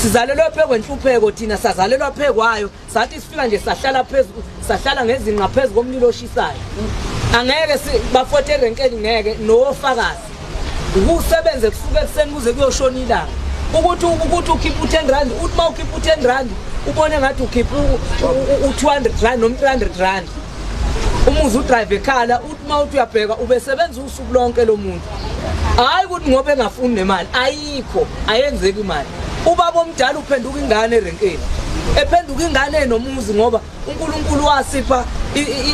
sizalelwa phe kwenhlupheko thina sazalelwa phe kwayo sathi sifika nje sahlala phezulu sahlala ngezinqa ngaphezu komlilo oshisayo angeke bafothe erenkeni ngeke nowofakazi ukusebenze kusuke ekuseni kuze kuyoshona ilanga ukuthi ukuthi ukhipha u-ten rand uthi uma ukhipha u-ten rand ubone ngathi ukhipha u-two hundred rand noma-three hundred rand umuzi udrive ekhala uthi uma uthi uyabheka ubesebenza usuku lonke lo muntu hayi ukuthi ngoba engafuni nemali ayikho ayenzeki imali ubaba omdala uphenduka ingane erenkeni ephenduka ingane enomuzi ngoba uNkulunkulu wasipha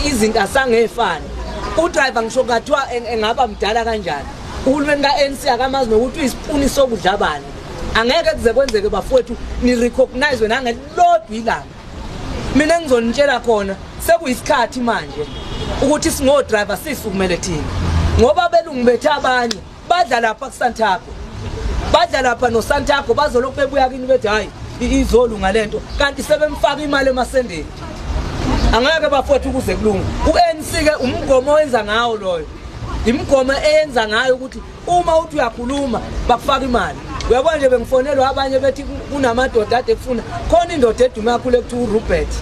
izinto asangefani udriver ngisho kathiwa engaba mdala kanjani uhulumeni ka-ANC akamazi nokuthi uyisipuni sokudla bani angeke kuze kwenzeke bafowethu ni-recognize nangelilodwa ilanga mina engizonitshela khona sekuyisikhathi manje ukuthi singodriver sisukumele thina ngoba abelungu bethu abanye badla lapha kusantago badla lapha nosantago bazolokhu bebuya kini bethi hhayi izolunga le nto kanti sebemfaka imali emasendeni angeke bafowethu ukuze kulunga u-anc-ke umgomo owenza ngawo loyo imigomo eyenza ngayo ukuthi uma uthi uyakhuluma bakufaka imali uyabona nje bengifonelwa abanye bethi kunamadoda ade kufuna khona indoda edume kakhulu ekuthiwa urobert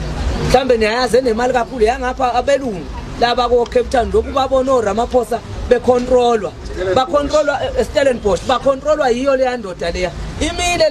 mhlawumbe niyayazi enemali kakhulu yangapha abelungu laba ko-cape town lokhu babona oramaphosa bekhontrolwa bakhontrolwa eh, estellenbosh bakhontrolwa yiyo leya ndoda leya imile